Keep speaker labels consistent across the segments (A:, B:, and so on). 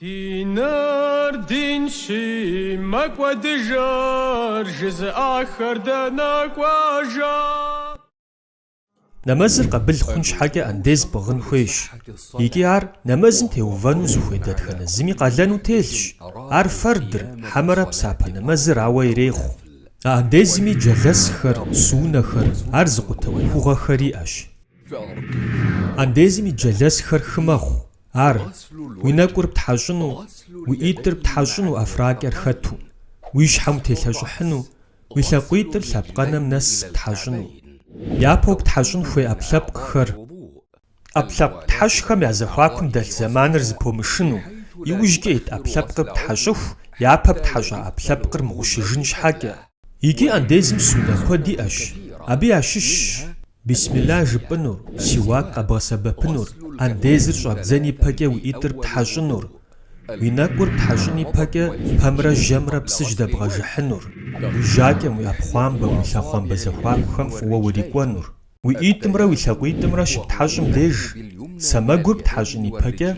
A: Диныр динщи, мэкӏуэдыжыр жызыӏахэр дэнэ
B: кӏуэжа? Нэмэзыр къабыл хъун щхьэкӏэ андез пӏыгъын хуейщ. Икӏи ар нэмэзым теувэну зыхуей дэтхэнэ зыми къалэну телъщ. Ар фэрдыр, хьэмэрэ псапэ нэмэзыр ауэ ирехъу. А андезми джэлэсхэр, суннэхэр, ар зыкъутэ ӏуэхугъуэхэр иӏэщ. Андезым и джэлэсхэр хы мэхъу. Ар, уи нэкӏур птхьэщӏыну, уи ӏитӏыр птхьэщӏыну ӏэфракӏэр хэту, уи щхьэм утелъэщӏыхьыну, уи лъакъуитӏыр лъэпкъэнэм нэс птхьэщӏыну. Япэу птхьэщӏын хуей ӏэпкълъэпкъхэр, ӏэпкълъэпкъ птхьэщӏхэм я зэхуакум дэлъ зэманыр зыпомышыну, иужькӏэ ит ӏэпкълъэпкъыр птхьэщӏыху, япэ птхьэщӏа ӏэпкълъэпкъыр мыгъущыжын щхьэкӏэ. Икӏи андезым суннэ куэд иӏэщ, абы ящыщщ бисмилла жыпӏынур, сиуак къэбгъэсэбэпынур, андезыр щӏэбдзэн ипэкӏэ уи ӏитӏыр птхьэщӏынур, уи нэкӏур птхьэщӏын ипэкӏэ пэмрэ жьэмрэ псы жьэдэбгъэжыхьынур, уи жьакӏэм, уи ӏэпхъуамбэм, уи лъэхъуамбэ зэхуакухэм фӏыуэ урикӏуэнур. Уи ӏитӏымрэ уи лъакъуитӏымрэ щыптхьэщӏым деж сэмэгур птхьэщӏын ипэкӏэ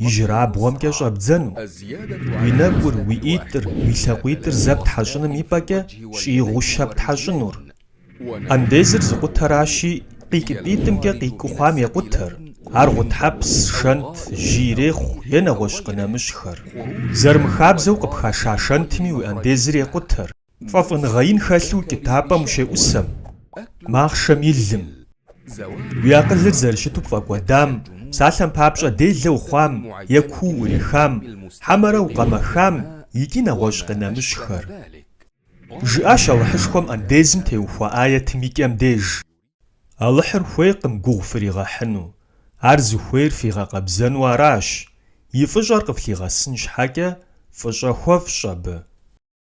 B: ижьырабгъуэмкӏэ щӏэбдзэну. Уи нэкӏур, уи ӏитӏыр, уи лъакъуитӏыр зэ птхьэщӏыным ипӏэкӏэ щӏигъу щэ птхьэщӏынур. Андезыр зыкъутэращи, къикӏыпӏитӏымкӏэ къикӏыу хъуам екъутэр, ар гъутхьэпс, шэнт, жьы ирехъу е нэгъуэщӏ къынэмыщӏхэр. Зэрымыхабзэу къыпхаша шэнтми уи андезыр екъутэр. Фӏэфӏыныгъэ ин хэлъу укӏытапӏэм ущеӏусэм, махъшэм и лым. Уи акъылыр зэрыщыту пфӏэкӏуэдам, псалъэм папщӏэ делэ ухъуам е куу уӏурихам, хьэмэрэ укъэмэхам икӏи нэгъуэщӏ къынэмыщӏхэр. Жыӏащ Алыхьышхуэм андезым теухуа ӏэятым и кӏэм деж, Алыхьыр хуейкъым гугъу фригъэхьыну, ар зыхуейр фигъэкъэбзэну аращ, и фӏыщӏэр къыфлъигъэсын щхьэкӏэ фӏыщӏэ хуэфщӏ абы.